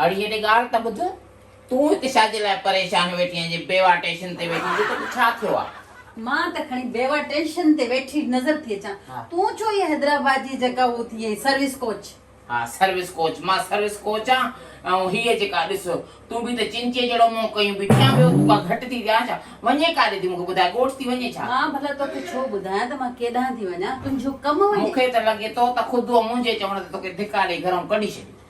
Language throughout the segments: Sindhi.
اڙيء نگار ته ٻڌ، تون هت ڇاجي لاء پريشان ويٺي آهين جي بيوا ٽيشن تي ويٺي هجين توکي ڇا ٿيو آ؟ مان ته کڻي بيوا ٽيشن تي ويٺي نظر ٿي اچان، تون ڇو اهي حيدرآباد جي جيڪا هو ٿي آهين سروس ڪوچ. ها سروس ڪوچ، مان سروس ڪوچ آن ۽ هيء جيڪا ڏس تون به ته چنچي جهڙو منهن ڪيون بيٺي آن ٻيو تون ڪا گهٽ ٿي ڏيان ڇا؟ وڃين ڪاڏي ٿي مون کي ٻڌاء ڳوٺ ٿي وڃين ڇا؟ مان ڀلا توکي ڇو ٻڌايان ته مان ڪيڏانهن ٿي وڃان، تنهنجو ڪم وڃي. مون کي ته لڳي ٿو ته خود هوء منهنجي چوڻ تي توکي ڌڪا ڏئي گهرئون ڪڍي ڇڏي.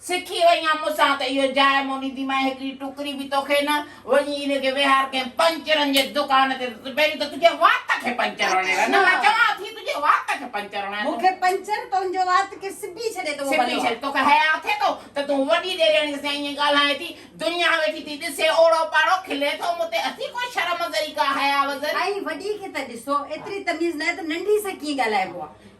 سکي وئين آن مون سان ته اهو جاء موني ٿي مئين هڪڙي ٽڪري به توکي نه، وڃي ان کي ويهار ڪنهن پنچرن جي دڪان تي ته پهرين ته تنهنجي وات کي پنچر هڻي رهه نه مان چوان ٿي تنهنجي وات کي پنچر هڻان ٿو. مون کي پنچر تنهنجو وات کي سبي ڇڏي ته اهو ڀلو آ. توکي حياء اٿئي ٿو ته تون وڏي ڏيرياڻي سان ائين ڳالهائين ٿي دنيا ويٺي ٿي ڏسي اوڙو پاڙو کلي ٿو مون تي اٿئي ڪو شرم ذري ڪا حياء وزري. ائين وڏي کي ته ڏسو ايتري تميز ناهي ته ننڍي سان ڪيئن ڳالهائبو آ.